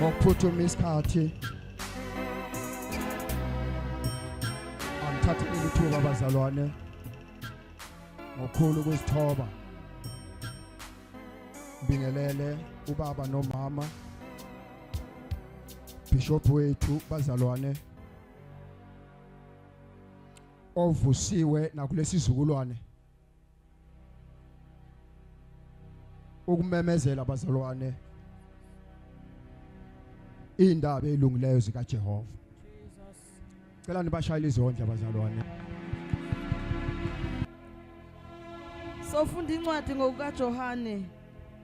ngokuphuthuma isikhathi angithathe leli thuba abazalwane ngokukhulu ukuzithoba ngibingelele ubaba nomama bishop wethu bazalwane ovusiwe nakulesi sizukulwane ukumemezela abazalwane indaba elungileyo zika Jehova cela nibashayile izondla abazalwane sofunda incwadi ngokukaJohane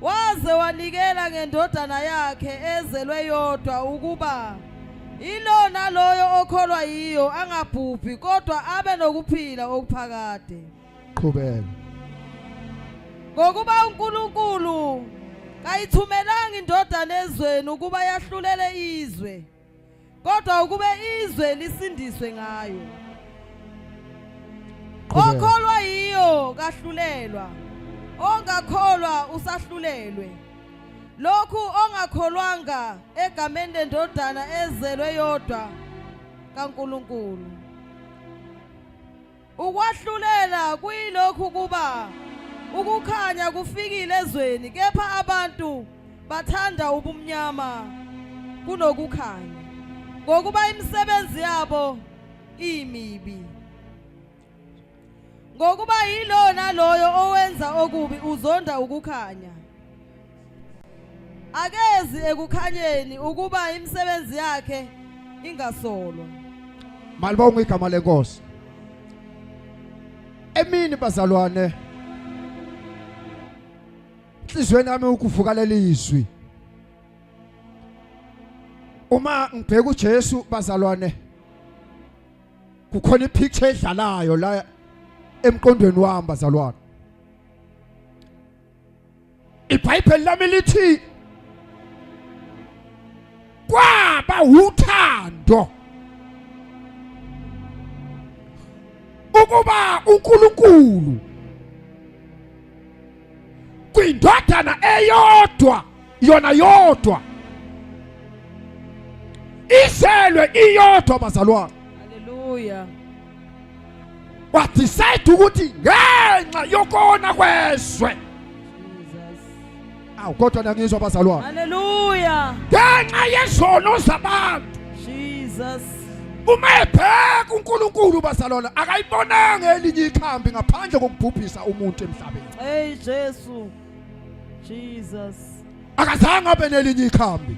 Waze wanikela ngendodana yakhe ezelwe yodwa ukuba ilona loyo okholwa yiyo angabhubhi kodwa abe nokuphila okuphakade. Qhubeka. Ngokuba uNkulunkulu kayithumelanga indodana ezweni ukuba yahlulele izwe. kodwa ukube izwe lisindiswe ngayo okholwa yiyo kahlulelwa ongakholwa usahlulelwe lokhu ongakholwanga egameni lendodana ezelwe yodwa kaNkuluNkulu Ukwahlulela kuyilokhu kuba ukukhanya kufikile ezweni kepha abantu bathanda ubumnyama kunokukhanya ngokuba imisebenzi yabo imibi ngokuba yilona loyo owenza okubi uzonda ukukhanya akezi ekukhanyeni ukuba imisebenzi yakhe ingasolwa malibonga igama lenkosi emini bazalwane inhlizweni yami ukuvuka lelizwi uma ngibheka uJesu bazalwane kukhona ipicture edlalayo la emqondweni wami bazalwane ibhayibheli lami lithi kwaba uthando ukuba uNkulunkulu kwindodana eyodwa yona yodwa iselwe iyodwa bazalwane haleluya wadecide ukuthi ngenxa yokona kwezwe awu kodwa nangizwa bazalwane haleluya ngenxa yezono zabantu jesus uma ebheka uNkulunkulu bazalwane akayibonanga elinye ikhambi ngaphandle kokubhubhisa umuntu emhlabeni hey jesu Jesus akazange abe nelinye ikhambi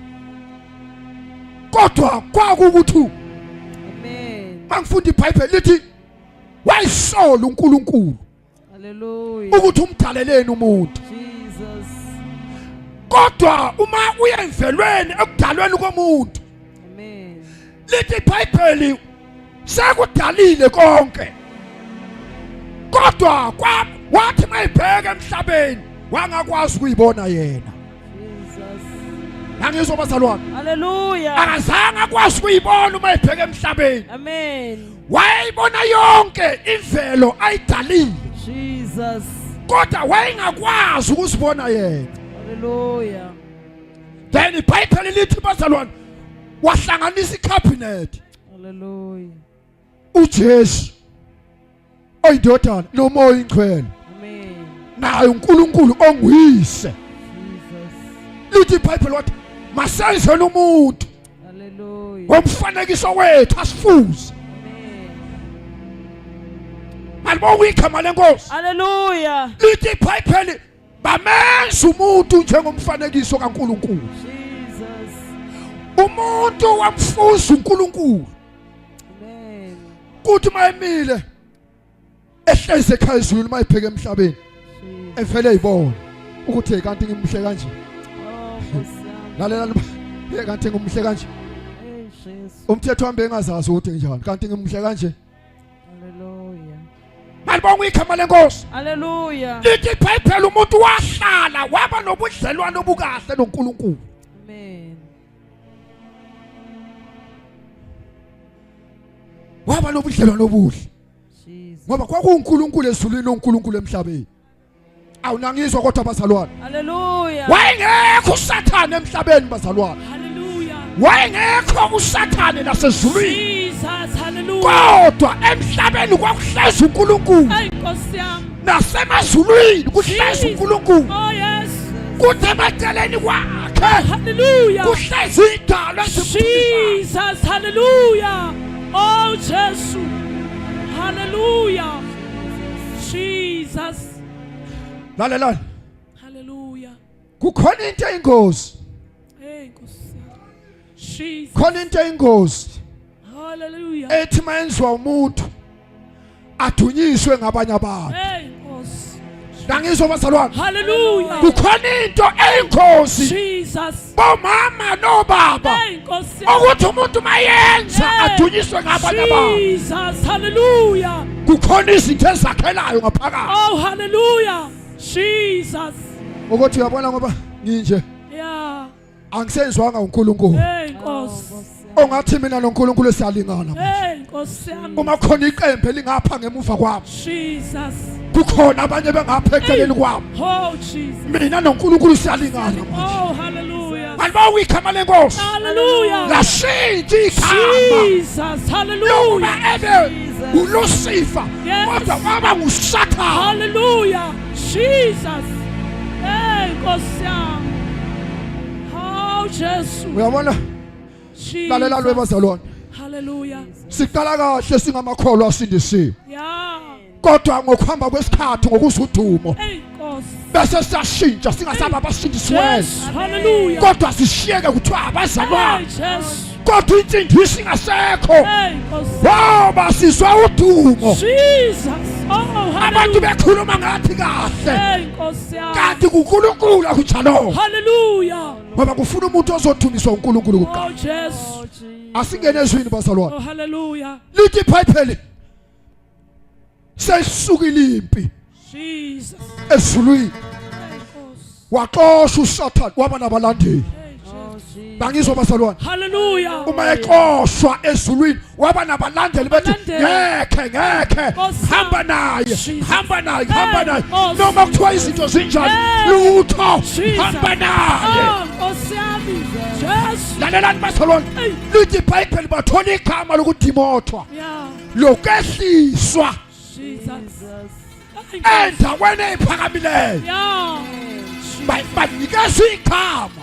kodwa kwakukuthi amen mangifunda iBhayibheli lithi wayisola uNkulunkulu haleluya ukuthi umdaleleni umuntu Jesus kodwa uma uye emvelweni ekudalweni komuntu lithi iBhayibheli sekudalile konke kodwa wathi mayibheke emhlabeni wangakwazi ukuyibona yena Angizwa bazalwane. Haleluya. Akazange akwazi kuyibona uma ebheke emhlabeni. Amen. Wayeyibona yonke imvelo ayidalile. Jesus. Kodwa wayengakwazi ukuzibona yena. Haleluya. Then iBhayibheli lithi bazalwane wahlanganisa ikhabhinethi haleluya uJesu oyindodana nomoya oyingcwele amen naye uNkulunkulu onguyise lithi iBhayibheli wathi masenzeni umuntu haleluya ngomfanekiso wethu asifuze alibonga igama lenkosi haleluya lithi iBhayibheli bamenza umuntu njengomfanekiso kaNkulunkulu umuntu wamfuza uNkulunkulu kuthi mayimile ehleze ekhaya izulu mayibheke emhlabeni evele ibona ukuthi kanti ngimhle kanje oh, lalela kanti ngimhle kanje umthetho wami bengazazi ukuthi njani kanti ngimhle kanje Hallelujah. Malibonga igama lenkosi. Hallelujah. Lithi iBhayibheli umuntu wahlala waba nobudlelwano obukahle noNkulunkulu. Amen. Waba nobudlelwano obuhle. Jesus. Ngoba kwakuNkulunkulu ezulwini noNkulunkulu emhlabeni. awunangizwa kodwa bazalwane haleluya wayengekho usathane emhlabeni bazalwane haleluya wayengekho usathane nasezulwini jesus haleluya kodwa emhlabeni kwakuhlezi uNkulunkulu ay nkosi yami nasemazulwini kuhlezi uNkulunkulu oh yes kuthi emaceleni kwakhe haleluya kuhlezi idalo jesus haleluya oh jesu haleluya Jesus. Lalelani. Hallelujah. Kukhona into eyingozi. Hey Nkosi. Jesus. Khona into eyingozi. Hallelujah. Ethi mayenziwa umuntu adunyiswe ngabanye abantu. Hey Nkosi. Ngangizwa bazalwane. Hallelujah. Kukhona into eyingozi. Jesus. bomama nobaba ukuthi umuntu mayenza adunyiswe ngabanye abantu kukhona izinto ezakhelayo ngaphakathi oh hallelujah jesus ukuthi uyabona ngoba nginje yeah angisenzwanga uNkulunkulu hey nkosi ongathi mina noNkulunkulu siyalingana hey nkosi yami uma khona iqembu elingapha ngemuva kwami Jesus kukhona abanye bengapha eceleni kwami oh Jesus mina noNkulunkulu siyalingana oh hallelujah alibawu igama lenkosi hallelujah lashintsha igama Jesus hallelujah ebe uLucifer kodwa waba nguSathane hallelujah Jesus hey nkosi yami oh Jesus uyabona lalela lwe bazalwane haleluya siqala kahle singamakholwa asindisiwe kodwa ngokuhamba kwesikhathi ngokuzudumo bese siyashintsha singasaba abasindisiweyo kodwa sishiyeke kuthiwa abazalwane kodwa insindiso ingasekho ngoba sizwa udumo oh, abantu bekhuluma ngathi kahle kanti kunkulunkulu akutshaloo ngoba kufuna umuntu ozothuniswa uNkulunkulu kuqala oh, asingene ezwini bazalwane oh, haleluya lithi ibhayibheli seyisukile impi Jesus ezulwini waxosha uSathane waba nabalandeli bangizwa bazalwane haleluya uma exoshwa ezulwini waba nabalandeli bethi ngekhe ngekhe hamba naye hamba naye hamba naye noma kuthiwa izinto zinjani lutho hamba naye oh, lalelani basolona lithi ibhayibheli bathola igama lokudimothwa lokwehliswa endaweni eyiphakamileyo banikeza igama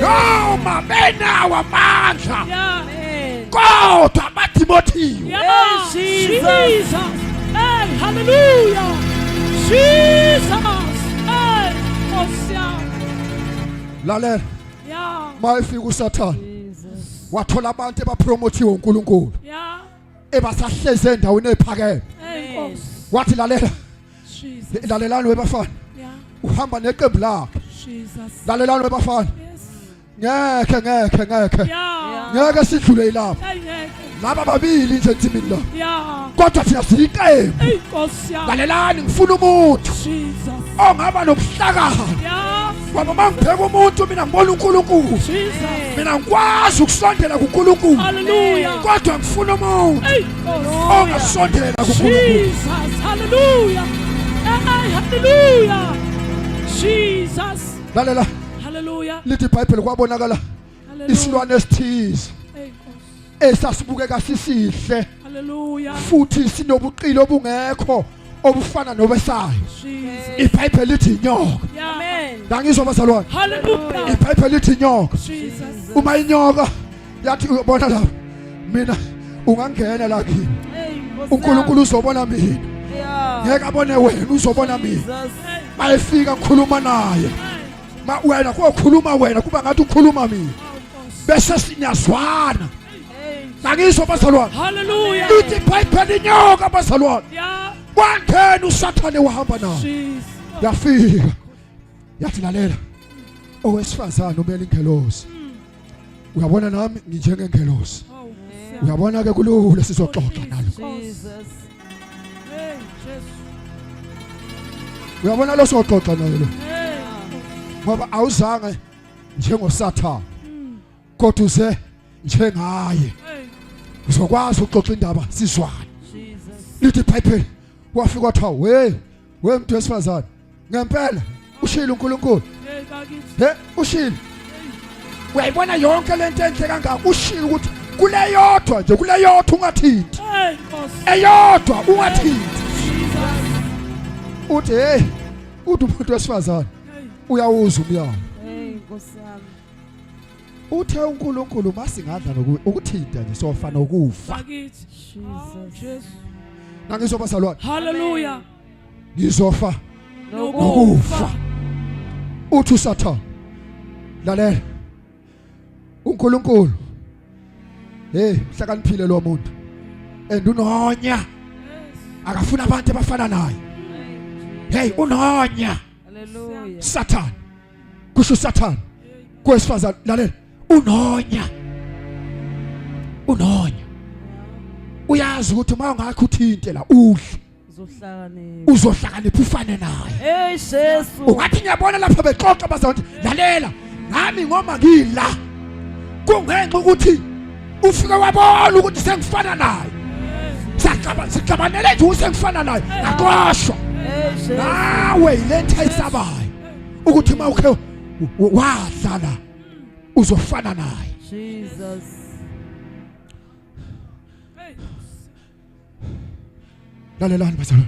noma benawo amandla kodwa amadimothiwe haleluya jesus lalela mayefika usathane wathola abantu ebapromothiwe unkulunkulu ebasahleze endaweni ephakeme wathi lalela lalelani webafana uhamba neqembu lakhe lalelani webafana ngeke ngeke ngeke ngeke sidlule ilapho laba babili nje ensimini la kodwa thina siyiqembu lalelani ngifuna umuntu ongaba nobuhlakani ngoba uma ngibheka umuntu mina ngibona uNkulunkulu mina ngikwazi ukusondela kuNkulunkulu kodwa ngifuna umuntu ongasondela kuNkulunkulu haleluya haleluya Jesus haleluya lithi iBhayibheli kwabonakala isilwane esithize esasibukeka sisihle futhi sinobuqili obungekho obufana nobesayo ibhayibheli lithi inyoka ngangizwa abazalwane ibhayibheli lithi inyoka uma inyoka yathi uyobona lapho mina ungangena la kimi uNkulunkulu uzobona mina ngeke abone wena uzobona mina mayefika ngikhuluma naye Ma wena kokhuluma wena kuba ngathi ukhuluma mina. Bese sinyazwana. Ngakizwa bazalwane. Hallelujah. Lithi iBhayibheli inyoka bazalwane. Yeah. Kwangena uSathane wahamba nawo. Jesus. Yafika. Yathi lalela. Owesifazane ubele ingelosi. uyabona nami nginjengengelosi oh, uyabona ke kulule sizoxoxa oh, nalo uyabona lo soxoxa naye lo ngoba awuzange njengosathana hmm. kodwa uze njengaye uzokwazi ukuxoxa indaba sizwane lithi ibhayibheli wafika wathiwa we we mntu wesifazane ngempela ushilo uNkulunkulu he ushilo uyayibona yonke lento enhle kangaka ushilo ukuthi kuleyodwa nje kuleyodwa ungathinti eyodwa ungathinti uthi hey uthi umuntu wesifazane uyawuza umyalo uthe uNkulunkulu masingadla noku ukuthinta nje sofa nokufa bakithi Jesus. Jesu nangizoba salwa haleluya ngizofa nokufa uthi usathana lalela uNkulunkulu hey hlakaniphile lo muntu and unonya akafuna abantu abafana naye hey unonya Hallelujah. sathana kusho usathane kwesifazane lalela unonya unonya uyazi ukuthi uma ungakho uthinte la udle uzohlakanipha uzohlakanipha ufane naye hey Jesu ungathi ngiyabona lapha bexoxa bazonke lalela nami ngoma ngila kungenxa ukuthi ufike wabona ukuthi sengifana naye sacabana sicabanele nje usengifana naye ngakoshwa nawe yilenthe isabayo ukuthi uma ukhe wadlala uzofana naye Jesus lalelani bazalo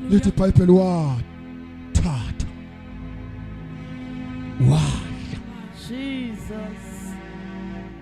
lithi ibhayibheli wathatha wa Jesus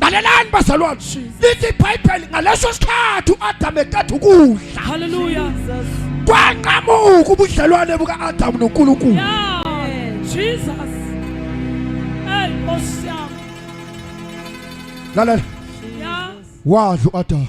lalelani bazalwane lithi ibhayibheli ngaleso sikhathi u-adamu eqeda ukudla haleluya kwanqamuka ubudlelwane buka-adamu nonkulunkulu jesus eyi nkosi yam lalela wadla u-adamu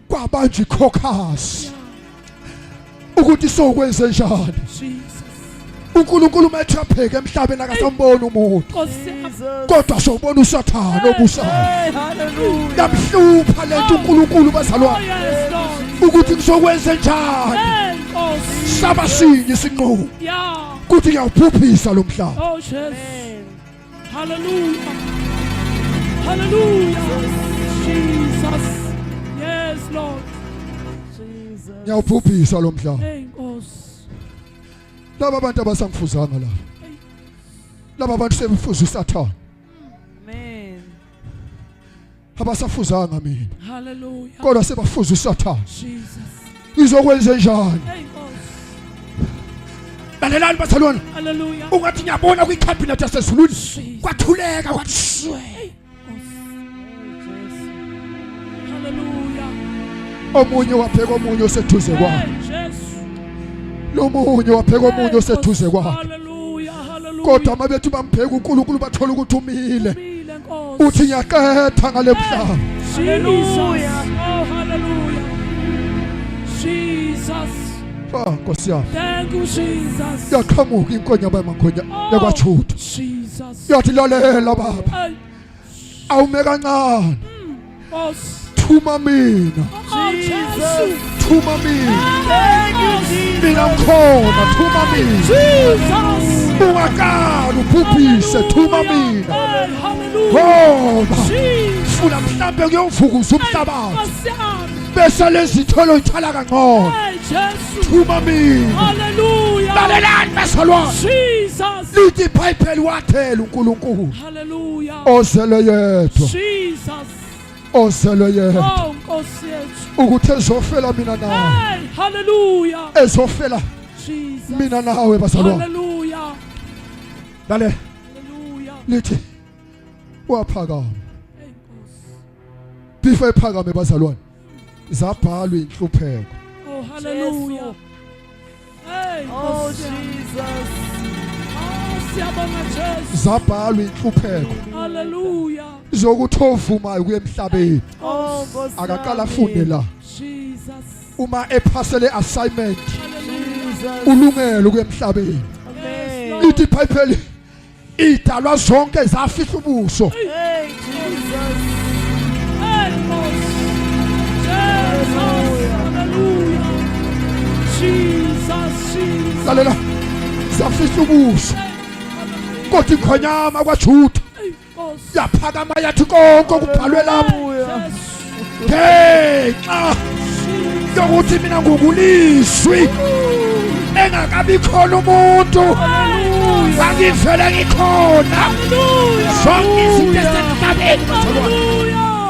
kwabanje ikhokhasi ukuthi sokwenze njani uNkulunkulu umethe apheke emhlabeni akasamboni umuntu kodwa sobona usathana obusayo yamhlupha lento uNkulunkulu oh, bazalwane ukuthi ngizokwenze njani saba sinye isinqumo ukuthi ngiyawuphuphisa lo mhlaba oh, Hallelujah. Hallelujah. Jesus. Yes, Lord. Jesus. Ngiyawuphuphisa lo mdlalo. Hey Nkosi. Laba bantu abasangifuzanga la. Laba bantu sebefuza uSathane. abasafuzanga mina haleluya kodwa sebafuza usathane jesus izokwenze njani lalelani bathalwana haleluya ungathi ngiyabona kwi cabinet yasezulwini kwathuleka kwathi shwe haleluya omunye wapheka omunye osethuze kwakhe lomunye wapheka omunye osethuze kwakhe kodwa uma bethi bambheka uNkulunkulu bathola ukuthi umile uthi ngiyaqetha ngale mhlaba haleluya oh haleluya jesus Oh Nkosi yami. Thank you Jesus. Yaqhamuka inkonya bamankonya oh, yakwathutha. Jesus. Yathi lalela baba. Awume kancane. thuma mina thuma mina mina ngikhona thuma mina ungaqala uphuphise thuma mina ngoba funa mhlampe kuyovukuza umhlabathi bese lezitholo ithala kangcono thuma mina lalelani besalwane lithi ibhayibheli wathela unkulunkulu Hallelujah. Ozele yedwa. Jesus. Ozele yedwa. Oh Nkosi yethu. Ukuthi ezofela mina nawe. Hey, hallelujah. Ezofela. Jesus. Mina nawe bazalwane. Hallelujah. Dale. Hallelujah. Lithi waphakama. Hey Nkosi. Before ephakame bazalwane. zabhalwa inhlupheko oh haleluya hey oh jesus oh, siyabonga jesus zabhalwa inhlupheko haleluya zokuthi ovumayo kuye emhlabeni oh, akaqala afunde la jesus uma ephasele assignment ulungele kuye emhlabeni lithi ibhayibheli idalwa zonke zafihla ubuso hey jesus hey nkosi jesus haleluya jesus jesus lalela zafihla ubuso kodwa ikhonyama kwajuda yaphakama yathi konke okubhalwe lapho ngenxa yokuthi mina ngukulizwi engakabi khona umuntu ngangivele ngikhona zonke izinto esemhlabeni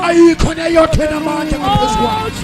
ayikho neyothe namandla ngaphezu kwakhe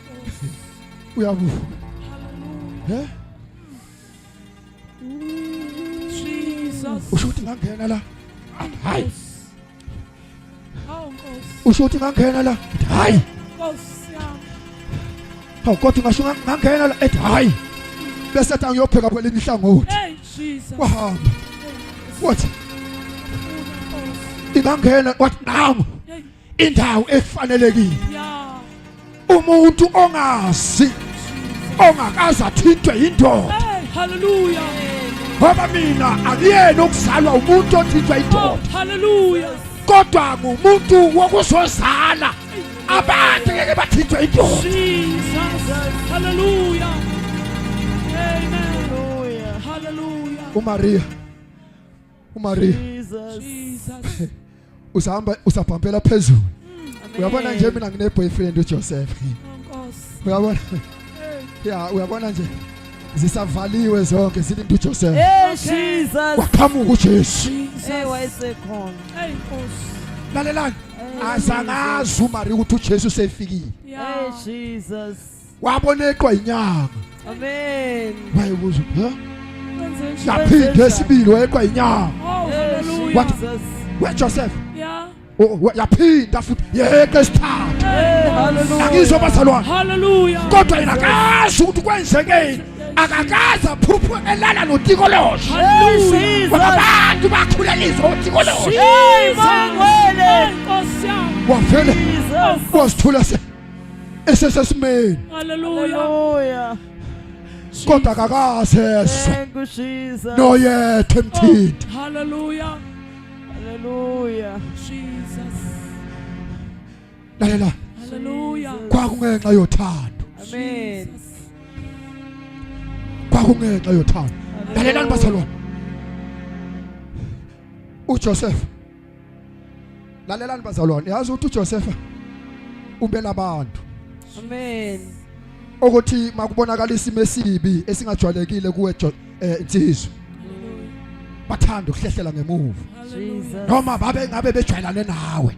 uyavuka he usho ukuthi ngangena la hayi usho ukuthi ngangena la hayi hawu kodwa ngasho ngangena la ethi hayi bese athi angiyopheka kwelinye ihlangothi wahamba wathi ingangena wathi nangu indawo efanelekile umuntu ongazi ongakaze athintwe yindoda haleluya ngoba mina akuyena ukuzalwa umuntu othintwa yindoda oh, haleluya kodwa ngumuntu wokuzozala abantu ngeke bathintwe yindoda haleluya amen haleluya umariya uMaria usahamba usabhampela phezulu mm, uyabona nje mina ngine boyfriend uJoseph oh, uyabona ya uyabona nje zisavaliwe zonke zilinde uJoseph hey Jesus waqhamuka uJesu hey wayesekhona hey Nkosi lalelani azangazi uMaria ukuthi uJesu sefikile hey Jesus waboneqwa inyanga amen wayebuza ha yaphinde esibili wayeqwa inyanga what where joseph yeah yaphinda futhi yeke isithathu angizwa bazalwane kodwa yena kazi ukuthi kwenzekeni akakaze aphuphe elala notikoloshe abantu bakhulelizwa utikoloshe wavele wasithula se esesesimeni haleluya kodwa kakaseswa noyethe mthinta oh, haleluya haleluya jesus lalela haleluya kwakungenxa yothando amen kwakungenxa yothando lalelani bazalwane uJoseph lalelani bazalwane yazi ukuthi uJosefa umela abantu amen ukuthi makubonakala isimo esibi esingajwayelekile kuwe eh, insizwe bathanda ukuhlehlela ngemuva noma babe ngabe bejwayelane nawe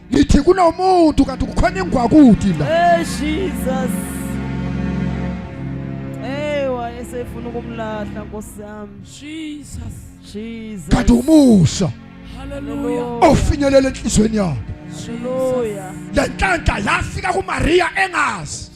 ngithi kunomuntu kanti kukhona ingwakuti la hey jesus hey wayesefuna ukumlahla nkosi yami jesus jesus kanti umusha haleluya ofinyelela enhlizweni yakhe haleluya lenhlanhla yafika kumariya engazi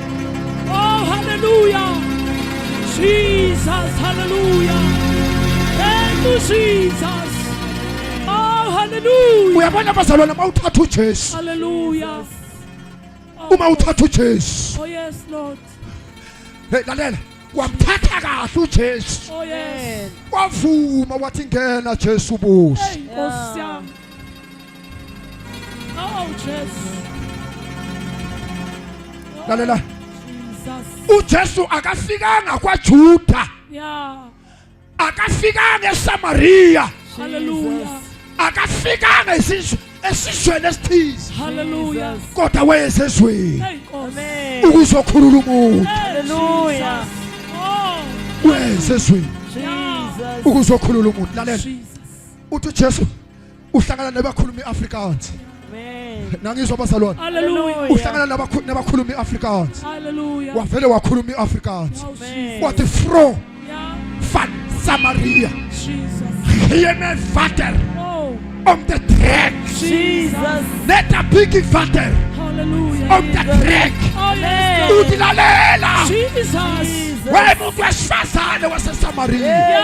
Oh hallelujah. Jesus hallelujah. Thank you Jesus. Oh hallelujah. Uyabona bazalwane mawuthatha uJesu. Hallelujah. Oh, Uma uthatha uJesu. Oh yes Lord. Hey lalela. wamthatha kahle uJesu oh, wavuma wathi ngena Jesu busi Oh Jesu. Lalela. uJesu akafikanga kwaJuda yeah akafikanga eSamaria haleluya akafikanga isizwe esizweni esithize haleluya kodwa wayeze ezweni amen ukuzokhulula umuntu haleluya oh. weze ezweni ukuzokhulula umuntu lalela uthi uJesu uhlangana nabakhuluma iAfrikaans nangizwa abazalwane uhlangana nabakhuluma iAfrikaans wavele wakhuluma iAfrikaans wathi fro van Samaria hiene vader oh. om de trek net a biggie vader om de trek oh, uthi lalela wemuntu wesifazane waseSamaria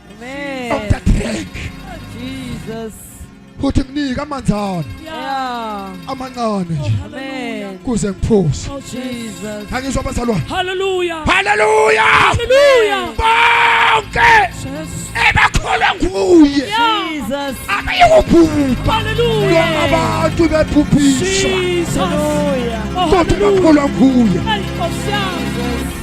Amen. of the drink Jesus. uthi nginike amanzana Yeah. amancane nje Amen. kuze ngiphuze Oh, Jesus. Jesus. angizwa abazalwane Hallelujah. haleluya Hallelujah. bonke Jesus. ebakholwa nguye Yeah. Jesus. abayokubhubha Hallelujah. noma abantu bephuphiswa Jesus. Hallelujah. Oh, kodwa hallelujah. bakholwa nguye Ay, Nkosi yami.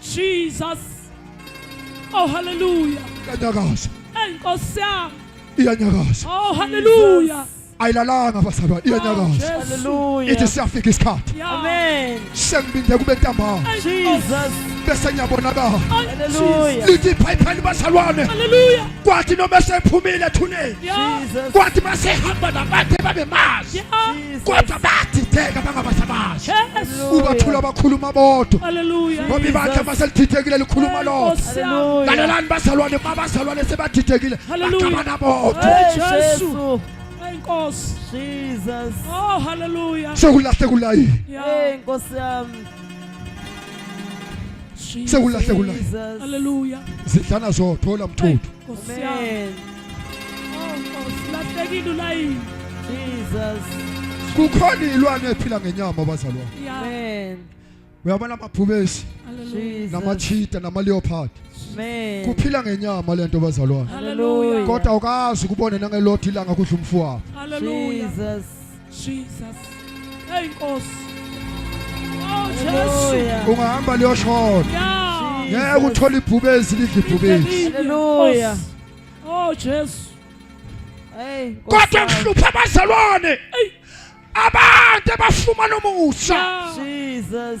Jesus. Oh hallelujah. Iyanyakaza. Hey Nkosi yami. Iyanyakaza. Oh hallelujah. ayilalanga abazalwane oh, iyanyakaza haleluya ithi siyafika isikhathi amen sengibinde kube ntambama jesus bese ngiyabonakala haleluya lithi iphayiphani bazalwane haleluya kwathi noma sephumile ethuneni jesus kwathi masehamba nabantu babemazi kodwa badideka bangabasabazi ubathula bakhuluma bodwa ngoba ibandla maselithithekile likhuluma lodwa lalelani bazalwane uma bazalwane sebadidekile baxabana bodwa Nkosi. Jesus. Oh hallelujah. Sekulahle kulayi. Hey Nkosi yami. Sekulahle kulayi. Hallelujah. Zidlana zodwa olamthuthu. Nkosi yami. Amen. Oh, Nkosi, lahlekile ulayini. Jesus. kukhona iy'lwane ephila ngenyama abazalwane Yeah. Amen. uyabona amabhubesi Hallelujah. Jesus. namachita namaleopard Amen. kuphila ngenyama le nto bazalwane Hallelujah. kodwa awukazi ukubone nangelodwa ilanga kudla umfo wakho Hallelujah. Jesus. Jesus. Hey Nkosi. Oh Jesu. Ungahamba liyoshona. Yeah. Ngeke uthole ibhubezi lidle ibhubezi. Hallelujah. Oh Jesu. Hey. Kodwa engihlupha abazalwane. Hey. Abantu abafumana umusa. Jesus.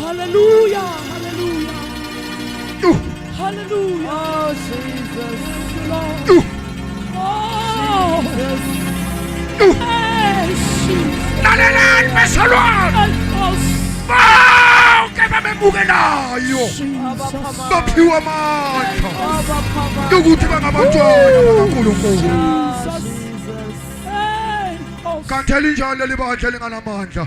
Hallelujah, hallelujah. Uh. Hallelujah. Oh, Jesus. Lord. Uh. Oh. Jesus. Uh. Hey, Jesus. Dale, dale, dale, dale, bamemukelayo baphiwa amandla yokuthi bangabanjwana bakankulunkulu kanti elinjalo leli bandla elinganamandla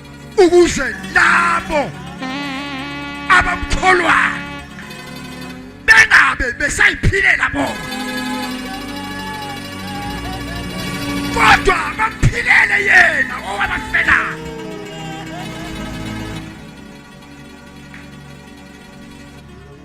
ukuze labo abamkholwayo bengabe besayiphilela bona kodwa bamphilele yena owabafelayo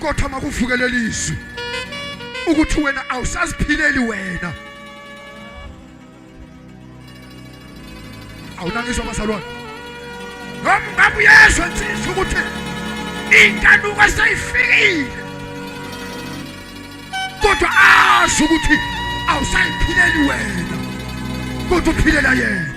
kodwa makuvuke leli zwi ukuthi wena awusaziphileli wena awunangizwa abazalwane noma ngabe uyezwa nsizwa ukuthi inkanuko seyifikile kodwa azi ukuthi awusayiphileli wena kodwa uphilela yena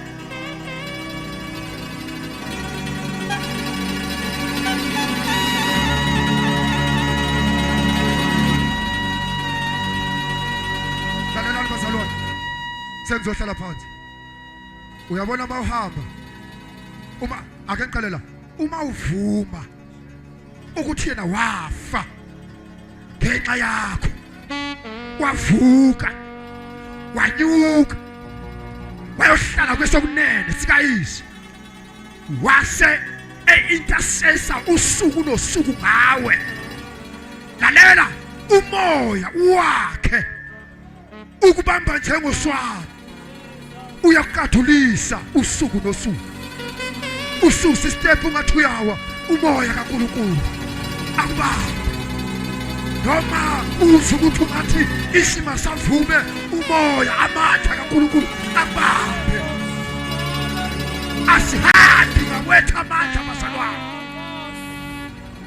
Lalelani bazalwane. Sengizohlala phansi. Uyabona bawuhamba. Uma ake ngiqale la. Uma uvuma ukuthi yena wafa ngenxa yakho wavuka wanyuka wayohlala kwesokunene sikayise wase e-intercessor usuku nosuku ngawe lalela umoya wakhe ukubamba njengoswana uyakuqathulisa usuku nosuku ususa isitepu ungathi uyawa umoya kaNkulunkulu akubambe noma uzwe ukuthi ungathi isima savume umoya amatha kaNkulunkulu akubambe asihambi ngakwethu amandla masalwana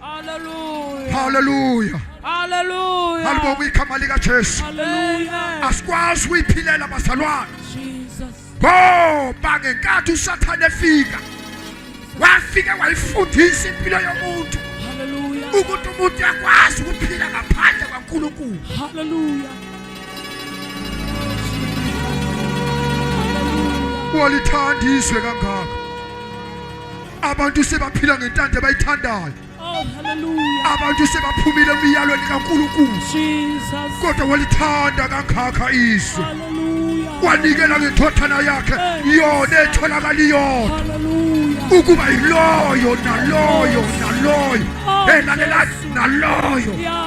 Hallelujah. Hallelujah. Hallelujah. Alibonga igama lika Jesu. Hallelujah. Asikwazi uyiphilela bazalwane. Jesus. Bo bangenkathi uSathane efika. Wafike wayifundisa impilo yomuntu. Hallelujah. Ukuthi umuntu yakwazi ukuphila ngaphandle kwaNkulunkulu. Hallelujah. Walithanda izwe kangaka. Abantu sebaphila ngentando abayithandayo. Oh hallelujah. Abantu sebaphumile emiyalweni kaNkulunkulu. Jesus. Kodwa walithanda kangaka izwi. Hallelujah. Wanikela ngendothana yakhe yona etholakala iyodwa. Hallelujah. Ukuba yiloyo naloyo naloyo. Oh, Hey, nalelani naloyo. Yeah.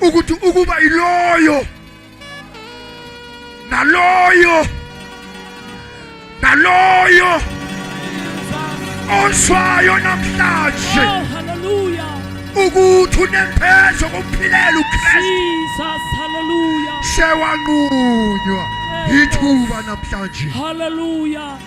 ukuthi ukuba iloyo naloyo naloyo onshwayo namhlanje oh, ukuthi unemphezo kokuphilela uKristu sewanqunywa yithuba namhlanje haleluya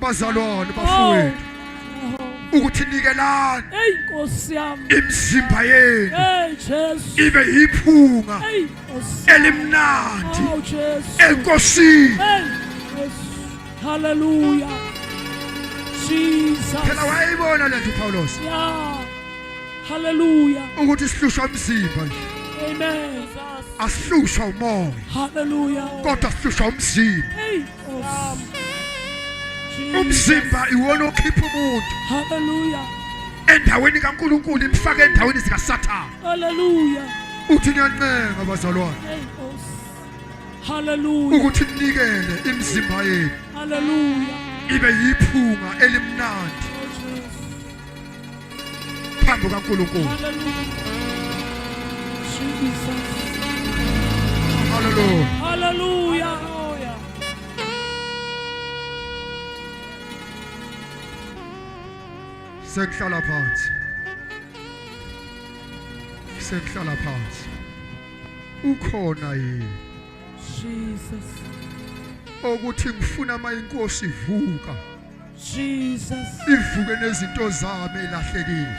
bazalwane oh. bafowethu ukuthi nikelani hey Nkosi yami imizimba yenu hey Jesu ibe yiphunga hey Nkosi elimnandi oh Jesu enkosini hey haleluya Jesus phela wayibona lento Paulos yeah haleluya ukuthi sihlushwa umzimba nje amen asihlushwa umoya haleluya kodwa sihlushwa umzimba hey umzimba iwona okhipha umuntu haleluya endaweni kaNkuluNkulu imfaka endaweni zika Satan haleluya uthi niyancenga bazalwane haleluya ukuthi ninikele imizimba yenu haleluya ibe yiphunga elimnandi phambi kaNkulunkulu Hallelujah Hallelujah Sekuhlala phansi Sekuhlala phansi Ukhona yini Jesus okuthi ngifuna mayinkosi vuka Jesus. Ivuke nezinto zami elahlekile.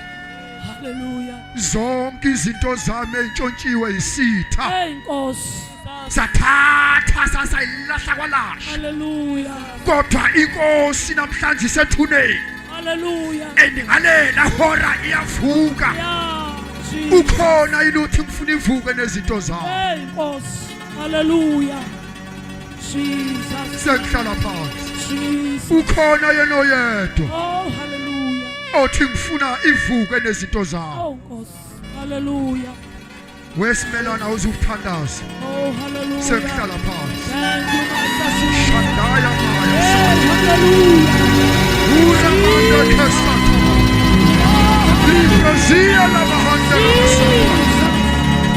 Hallelujah. Zonke izinto zami ezintshontshiwe isitha. Hey Nkosi. sathatha sasayilahla kwalasha haleluya kodwa inkosi namhlanje isethuneni haleluya and ngalela hora iyavuka ukhona iluthi ngifuna ivuke nezinto zawo hey nkosi haleluya sengihlala phansi ukhona yena oyedwa oh, othi ngifuna ivuke nezinto zawo oh, haleluya wesimelana uzukuthandaza oh, sengihlala phansi shandaya maya uramanda kesatha Brasil, la barranca,